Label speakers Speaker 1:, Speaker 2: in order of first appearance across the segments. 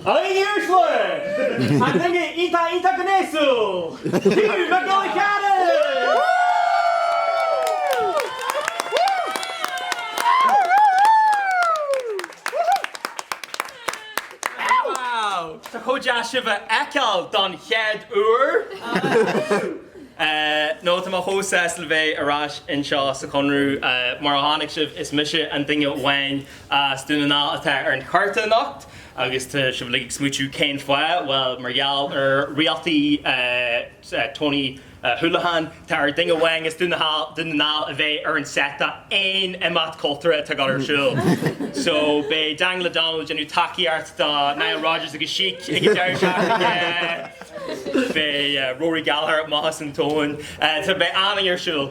Speaker 1: A dhaoine uaisle! An duine iontach iontach gnéasúil! Hugh Mac Giolla Chearra! Wow! Tá chomh deas sibh a fheiceáil don chéad uair! Nó tá mé chomh sásta le bheith ar ais anseo sa Chonradh. Mar a chonaic sibh, is mise an duine amháin as Dún na nGall atá ar an chárta anocht. Agus tá sibh uilig ag smaoitiú cén fáth? Bhuel, mar gheall ar rialtaí Tony Holohan. Tá ar duine amháin as Dún na nGall a bheith ar an set d'aon imeacht cultúrtha atá ag dul ar siúl. So, beidh Daniel O'Donnell ag déanamh tacaíocht do Nile Rodgers agus Chic ag an deireadh seachtaine, beidh Rory Gallagher amach as an tóin, tá beidh an-oíche ar siúl.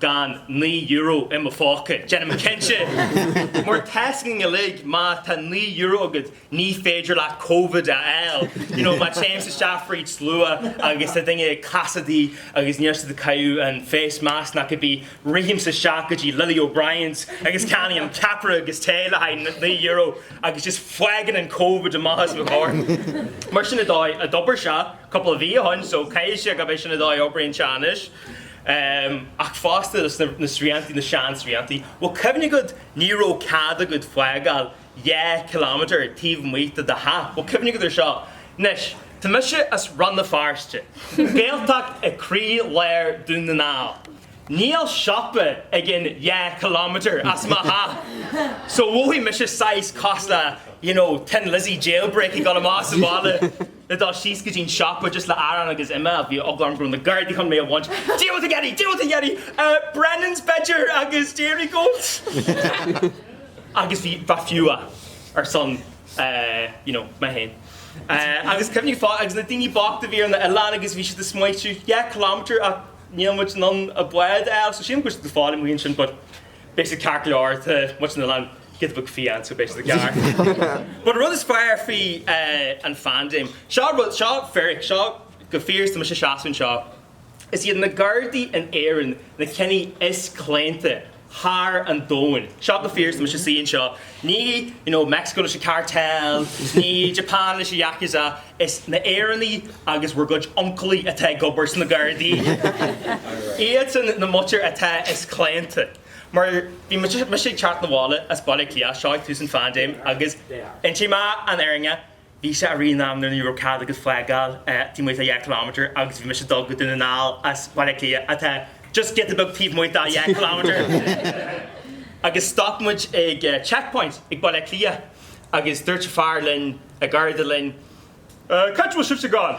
Speaker 1: gan naoi euro i mo phóca, déanaim cinnte mar tá a fhios againn uilig má tá naoi euro agat ní féidir leat Covid a fháil you know má téimse isteach fríd slua agus tá daoine ag casachtaí agus níl siad ag caitheamh an face mask ná cibé, rithimse isteach go dtí Lily O'Briens agus ceannaím ceapaire agus tae le haghaidh naoi euro agus just fágann an Covid amach as mo chorp. Mar sin an dóigh a d'oibir sé cúpla mhí ó shin so caithfidh sé gurb é sin an dóigh a oibríonn sé anois. Ach fosta, na srianta, na seansrianta, bhfuil cuimhne agat, ní raibh cead agat fágáil dhá km taobh amuigh de do theach. Bhfuil cuimhne agat ar seo. Anois, tá mise as Rann na Feirste, Gaeltacht i gcroílár Dún na nGall. Níl siopa againn dhá km as mo theach. So, mhothaigh mise saghas cosúil le, you know, Thin Lizzy Jailbreak ag dul amach sa bhaile. le dul síos go dtí an siopa just le arán agus im a bhí eagla orm go raibh na gardaí chun mé a bhaint deal with a yeti! deal with a yeti! Brennan's b'fhéidir agus Dairygold agus bhí bheith fiú a ar son you know mé féin agus cuimhnigh fáth agus na daoine bochta a bhí ar na hoileáin agus bhí siad ag smaoitiú dhá kilometre ach níl muid in ann a bád a fháil so sílim go raibh siad ag fáil amuigh ansin but Beidh sé ceart go leor the, much they'll get a book faoi ann so beidh sé ceart. But an rud is fearr faoi an phandéim, seo rud, seo fíric, seo chomh fíor is tá mise seasta anseo, is iad na gardaí in Éirinn na cinn is claonta thar an domhan. Seo chomh fíor is tá mise suí anseo. Ní you know Mexico leis an cartel, ní Japan leis an yakuza, is na hÉireannaigh agus bhur gcuid uncailí atá ag obair sna Gardaí. Iadsan na muintir atá is claonta. Mar bhí mise ag teacht na bhaile as Baile Átha Cliath siar i dtús an phandéim agus inseoidh mé an fhírinne, Bhí sé i rith an ama nuair ní raibh cead agat fágáil taobh amuigh de dheich kilometre agus bhí mise ag dul go Dún na nGall as Baile Átha Cliath atá just giota beag taobh amuigh de dheich kilometre agus stop muid ag checkpoint ag Baile Átha Cliath agus dúirt fear linn, garda linn, cá bhfuil sibhse ag goil?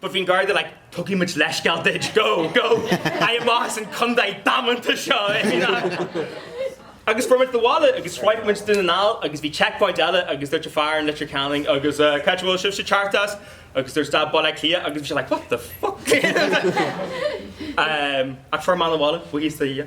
Speaker 1: But bhí an Garda like, Tugfaidh muid leithscéal duit, gabh, gabh ar aghaidh amach as an contae damanta seo! Agus fuair muid abhaile agus shroich muid Dún na nGall agus bhí checkpoint eile agus dúirt an fear in Leitir Ceanainn agus uh, cá bhfuil sibhse ag teacht as? Agus dúirt dá Baile Cliath agus bhí sé like, what the fuck? um, ach fuair muid abhaile, faoi híos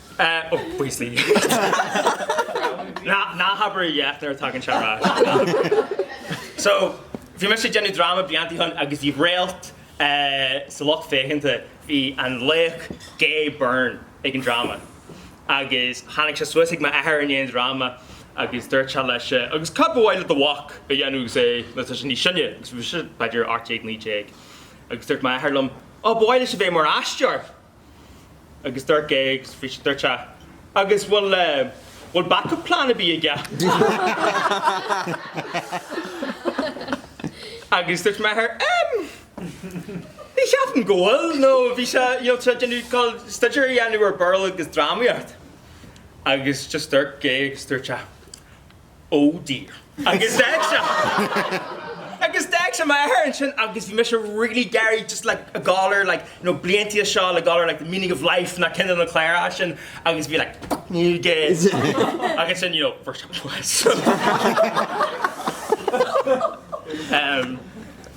Speaker 1: Ó, faoi shlí. Ná habair a dhath nuair a thagann sé ar ais. So, bhí mise ag déanamh dráma blianta ó shin agus bhí réalt sa lucht féachanta. Bhí an laoch Gay Byrne ag an dráma agus tháinig sé suas ag m'athair i ndiaidh an dráma agus dúirt sé leis, agus cad ba mhaith le do mhac a dhéanamh agus é, nuair atá sé níos sine, agus bhí mise b'fhéidir ocht déag, naoi déag, agus dúirt m'athair liom, Ó, ba mhaith leis a bheith mar aisteoir! agus dúirt Gay agus bhí sé dúirt sé agus bhfuil bhfuil backup plan ar bith aige? agus dúirt m'athair em ní cheapaim go bhfuil nó bhí sé you know tá sé ag goil staidéar a dhéanamh ar Béarla agus drámaíocht agus just dúirt Gay agus dúirt sé Ó dear. Agus d'fhág sé. Agus d'fhág sé m'athair ansin agus bhí mise really gairid just like a galar like you know blianta ó shin go léir like the meaning of life na cinn de na cláracha sin agus bhí like fuck you guys agus sin you know first time was. Em.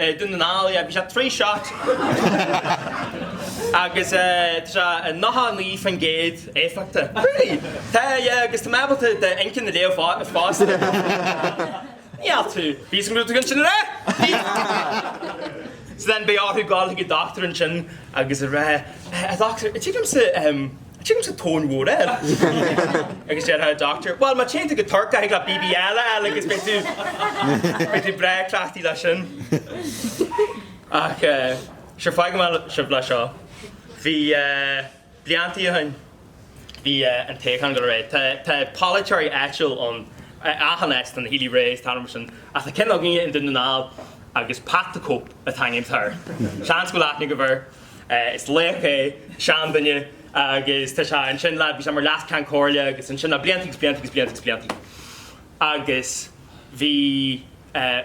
Speaker 1: I Dún na nGall, yeah, bhí sé trí shot agus tá sé nócha naoi faoin gcéad éifeachtach. Really? Tá, yeah, agus tá mé ábalta do inchinn a léamh fosta. Ní ait thú. Bhí san grúpa ansin, an ea? So then bhí orthu dul chuig an dochtúir ansin agus a rá, A dhochtúir, tchím liomsa, ehm, Titim sa tóin mhór é! Agus déarfadh an dochtúir, Bhuel, má téann tú go Tuirc, thig leat BBL a fháil agus beidh tú, beidh tú breá cleachtaithe leis sin. Ach eh, sure, fágfaidh mé sibh leis seo. Bhí eh, blianta ó shin, bhí eh, an toghchán go léir, tá, tá polaiteoirí áitiúil ann, eh, achan áit, tá na Healy Raes, tá na mar sin, ach tá ceann againne i nDún na nGall agus Pat the Cope atá an t-ainm atá air. Seans go bhfuil aithne agaibh air. Is laoch é, seanduine, agus tá sé ansin le, bhí sé mar Leas-Cheann Comhairle agus ansin le blianta agus blianta agus blianta agus blianta. Agus bhí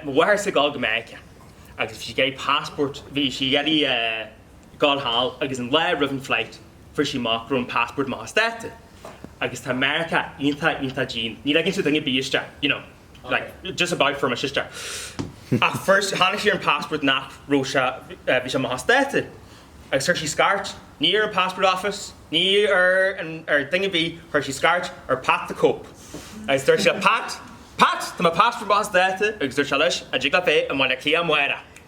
Speaker 1: mo mháthairse ag dul go Meiriceá agus bhí sí ag iarraidh passport, bhí sí ag iarraidh dul thall agus an lá roimh an flight fuair sí amach go raibh an passport amach as dáta. Agus tá Meiriceá iontach, iontach dian, ní ligeann siad duine ar bith isteach, you know. like just about for my sister ach fuair tháinig sí ar an passport nach raibh sé bhí sé amach as dáta agus chuir sí scairt ní ar an passport office ní ar an ar duine bí chuir sí scairt ar Pat the Cope agus dúirt sé Pat tá mo passport amach as dáta agus dúirt sé leis an dtig leat bheith i mBaile Átha Cliath amárach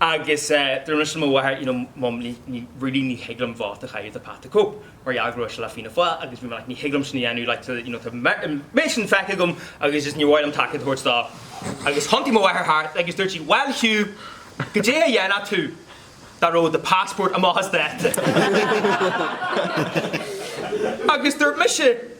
Speaker 1: Agus dúirt mé leis an mo mháthair you know mum ní ní really ní thig liom vóta a chaitheamh do Pat the Cope mar gheall go raibh sé le Fianna Fáil agus bhí mé like ní thig liom sin a dhéanamh like tá you know tá an méid sin feicthe agam agus just níor mhaith liom tacaíocht a thabhairt dó. Agus thiontaigh mo mháthair thart agus dúirt sí bhuel Hugh goidé a dhéanfadh tú dá raibh do passport amach as dáta? Agus dúirt mise.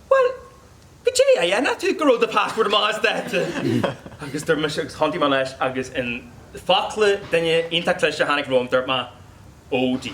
Speaker 1: Bhuel, goidé a dhéanfadh tú dá rabh do passport amach as dáta? Agus duirt mise, agus thiontaigh mé leis, agus in focla duine iontach cliste a tháinig romham, duirt mé, Oh dear.